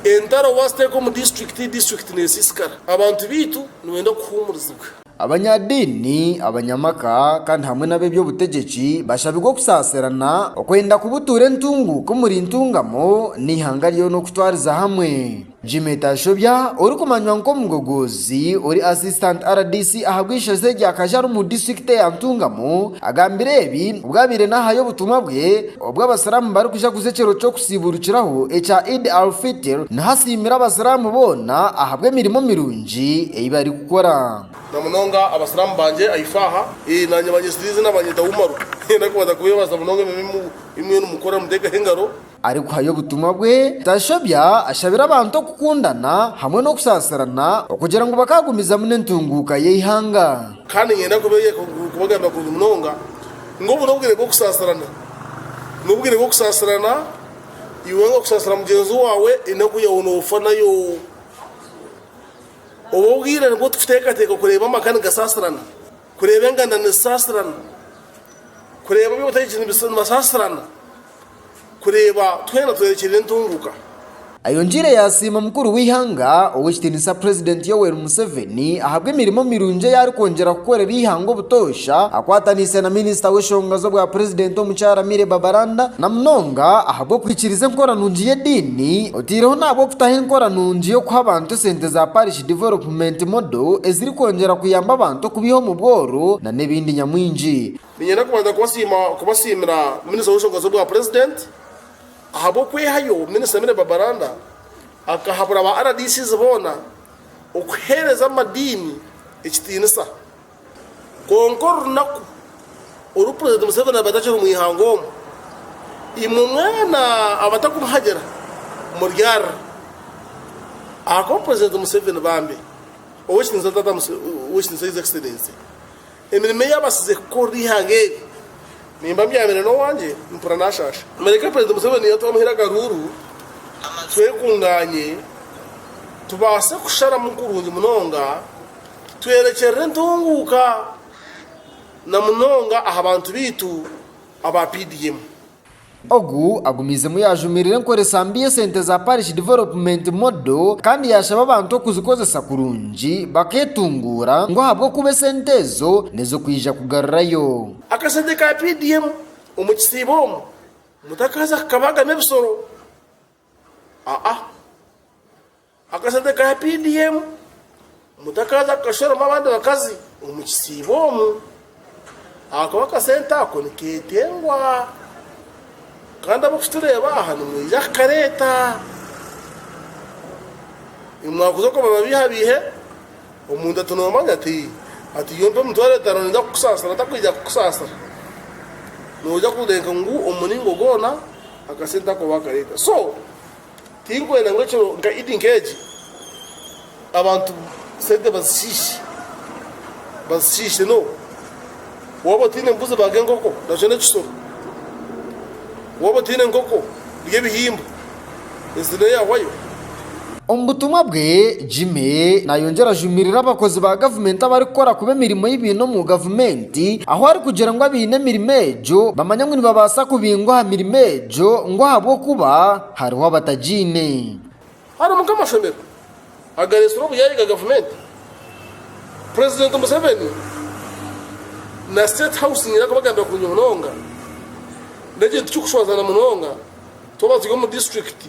Entaro waaziteeka omu disiturikiti, disiturikiti neesiisikara. Abantu baitu nibenda kuhuumurizibwa. Abanyadiini, abanyamaka, kandi hamwe n'ab'eby'obutegyeki bashabirwe okusaasirana, okwenda kubutuura entunguuka omuri Ntungamo n'eihanga ryoona okutwariza hamwe. Jimmy Tashobya orikumanywa nk'omugogoozi ori Assistant rdc ahabw'eishozi eryo akaja ari omu disiturikiti ya Ntungamo agambire ebi obwabaire naahayo obutumwa bwe obw'abasiramu barikujaguza ekyero ky'oku Ekitsiburukiraho ekya Eid al-Fitr nihasiimira Abasiraamu boona ahabw'emirimo mirungi ei barikukora. Na munonga Abasiraamu bangye aha ifaaha, ee, naanye banyesiriize nabanyeta Umaru. Niinyenda kubanza kubeebaza munonga emirimo ei mwena mukora nimuteekaho engaro. Arikuhayo obutumwa bwe, tashobya, ashabira abantu okukundana hamwe n'okusaasirana okugira ngu bakaagumizamu n'entunguuka y'eihanga. Kandi niinyenda kubeeyeka, kubagambira kurungi munonga. Ngu obu n'obwire bw'okusaasirana. N'obwire bw'okusaasirana, iwe nga okusaasira mugyenzi waawe enaku yaawe noofa nayo. Obu obwire nibwo tukuteekateeka kureeba amaka nigasaasirana, kureeba enganda nizisaasirana, kureeba ebi otaire gye nibasaasirana. kureeba twena twerekyerera entunguka. Ayongiire yasiima omukuru w'eihanga ow'ekitiinisa Purezidenti Yoweri Museveni ahabw'emirimo mirungi ei arikwongyera kukorera eihanga obutoosha akwataniise na Minisita w'eshonga z'obwa Purezidenti omukyara Milly Babalanda na munonga ahabw'okwikiriza enkora nungi y'ediini oteireho n'ahabw'okutaho enkora nungi y'okuha abantu esente za Parish Development Model ezirikwongyera kuyamba abantu okubiiha omu bworo na n'ebindi nyamwingi. Niinyenda kubanza kubasiima kubasiimira Minisita w'Enshonga z'Obwa Purezidenti ahabw'okwehayo, Minisita Milly Babalanda akahabura ba RDCs boona okuheereza amadiini ekitiinisa. Kwonka orunaku oru Purezidenti Museveni araabe atakiri omu ihanga omu, imwe mwena abatarikumuhagira muryarira ahakuba Purezidenti Museveni bambi ow'ekitiinisa Taata Museveni, ow'ekitiinisa His Excellency, Emirimo ei abatsize kukorera eihanga eri nimba mbyamire n'owangye mpura naashaasha. Mureke Purezidenti Museveni yatuha omuhira akaruuru twekungaanye tubaase kusharamu kurungi munonga twerekyerere entunguuka na munonga aha bantu baitu aba PDM. Ogu agumiizemu yaajumirira enkoresa mbi y'esente za Parish Development Model kandi yaashaba abantu okuzikozesa kurungi bakeetunguura ngu ahabw'okuba esente ezo nizo kwija kugarurayo. Akasente ka PDM omu kisiibo omu mutakaaza kukabagamu ebisoro? Aa. Akasente ka PDM, Mutakaazi akakashoromu abandi bakazi omu kisiibo omu ahakuba akasente ako nikeetengwa kandi ab'okukitureeba aha nimwija kukareeta. Nimwakuza okubaba baihabaihe, omuntu ati noomanya ati ati iwe mpa emitwaro etaano ninza kukusaasira takwija kukusaasira. Nooja kureeka ngu omu muringo gwona akasente ako baakareeta. So, Tirikwenda ngu ekiro nka Idi nk'egi abantu sente bazishiishe, bazishiishe n'obu waaba otaine mbuzi baaga enkoko nakyo n'ekisoro, waaba otaine nkoko rya ebihimba ezi neeyahwayo. Omu butumwa bwe, Jimmy naayongyera ajumirire abakozi ba gavumenti abarikukora kubi emirimo ei baine omu gavumenti, ahu arikugira ngu abaine emirimo egyo bamanya ngu nibabaasa kubingwa aha mirimo egyo. Gyo ngu ahabw'okuba hariho abatagiine. Harimu nk'amashomero agareetsire obuyaaye ga gavumenti, Purezidenti Museveni na State House nibaija kubagambira kurungi munonga, n'ekindi tikirikushwazana munonga twaba turi omu disiturikiti.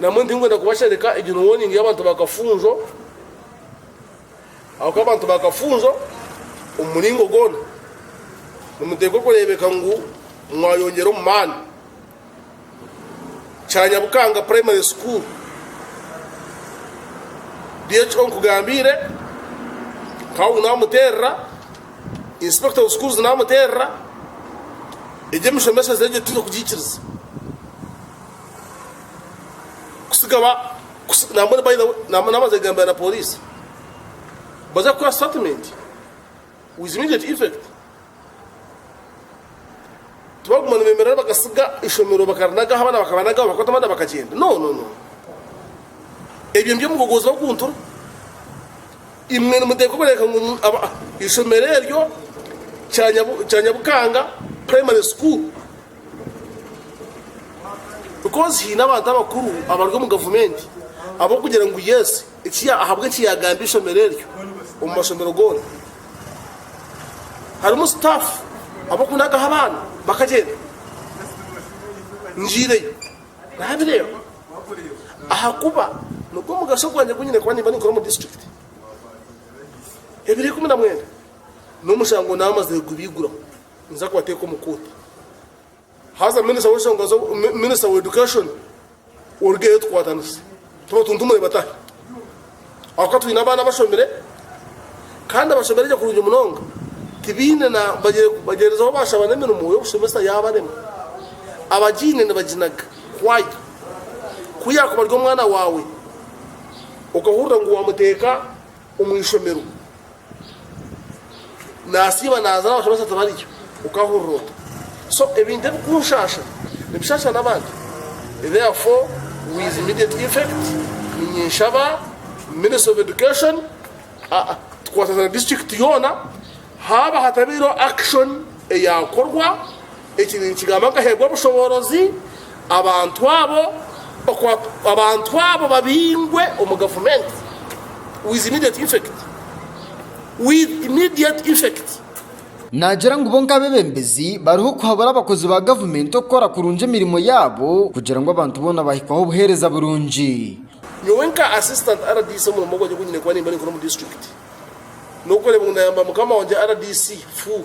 Namwe ndinkwenda kubashereka egyo warning y'abantu ba Kafunjo ahabw'okuba abantu ba Kafunjo omu muringo goona nimuteekwa kureebeka ngu mwayongyera omu maani. Kyanyabukanga Primary School, DHO nkugambiire, Kawu naamuteerera, Inspector of Schools naamuteerera, egyo emishomeshereze egyo titwine kugiikiriza. kusiga ba kusi- nambone by the way nam- namaze kugambira na polisi baza kukora statement with immediate effect tibaguma nibemerera bagasiga ishomero bakarinagaho abana bakabanagaho bakwata abana bakagenda no no no ebyo nibyo mugogozi bakuntura imwe nimuteeka okureka ngu mu- aba- ishomero eryo kya Nyabu- kya nyabukanga primary school Because haine abantu abakuru abari omu gavumenti ab'okugira ngu yes ahabwa eki yaagambye eishomero eryo omu mashomero goona harimu staff ab'okunagaho abaana bakagyenda. Ngiireyo naabireeba ahakuba nigwo mugasho gwangye gu nyine kuba nimba ninkora omu disiturikiti. Ebiro ikumi na mwenda n'omushango naamazire kubiiguraho. Ninza kubateeka omu kooti. Haza minisita w'enshonga zo, minisita wa education orugeyo tukwatanise tubatuntumure batahe. Ahakuba twine abaana bashomire kandi abashomire gye kurungi munonga tibaine na bagyendezaho baashaba n'emirimo y'obushomesa yaabarema. Abagiine nibaginaga kwaya. Ku yaakuba ari omwana waawe okahurira ngu waamuteeka omu ishomero. Nasiiba naaza na bashomesa tibariyo, okahurira ota? So ebintu ebikunshaasha nibishaasha n'abandi. Therefore with immediate effect ninyenshaba ministry of education tukwatagane district yoona haaba hatabaireho action eyakorwa, Eki ninkigamba nkaheebwa obushoboorozi abantu abo abantu abo babingwe omu gavumenti with immediate effect with immediate effect. Naagira ngu bo nk'abeebembezi bariho kuhabura abakozi ba gavumenti okukora kurungi emirimo yaabo kugira ngu abantu boona bahikweho obuheereza burungi. Nyowe nka Assistant rdc omurimo gwangye ogu nyine kuba nimba ninkora omu disiturikiti n'okureeba ngu naayamba mukama wangye rdc, fuu.